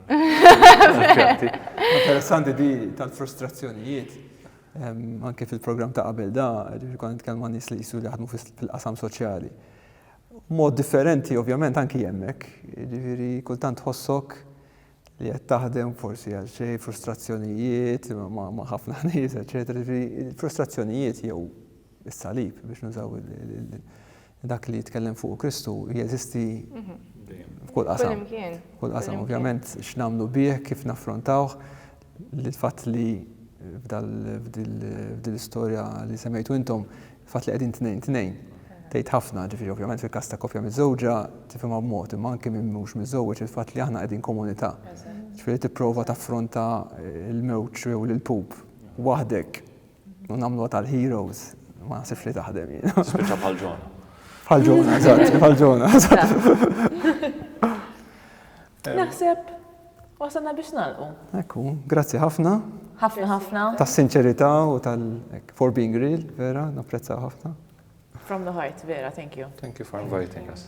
Interessanti di tal-frustrazzjonijiet. Anke fil-programm ta' qabel da, ġifieri kont nitkellmu għan nies li jisu li jaħdmu fil-qasam soċjali. Mod differenti, ovvjament, anki hemmhekk, ġifieri kultant tħossok li qed taħdem forsi għal xejn, frustrazzjonijiet ma' ħafna nies, eċetera. Ġifieri frustrazzjonijiet jew is-salib biex nużaw Dak li jitkellem fuqu Kristu jeżisti f'kull qasam. Kullimkien. F'kull qasam, ovvjament, x'nagħmlu bih, kif naffrontawh, l-fatt li f'dil istorja li semmejtu intom, il-fatt li qegħdin tnejn tnejn, tgħid ħafna, ġifieri ovvjament fil-każ ta' koppja miżżewġa tifhimha b'mod, imma anke min mhux miżżewweġ il-fatt li aħna qegħdin komunità, ġifieri tipprova taffronta l-mewġ jew l-ilpup waħdek. U nagħmluha tal-heroes, ma naħsibx li taħdem jien. Spiċċa bħal ġona. Bħal ġona, eżatt, bħal ġona. Naħseb, wasalna biex nalqu. Ekku, grazzi ħafna. Ħafna ħafna. Tas-sinċerità u tal for being real, vera, napprezzaw ħafna. From the heart, vera, thank you. Thank you for inviting us.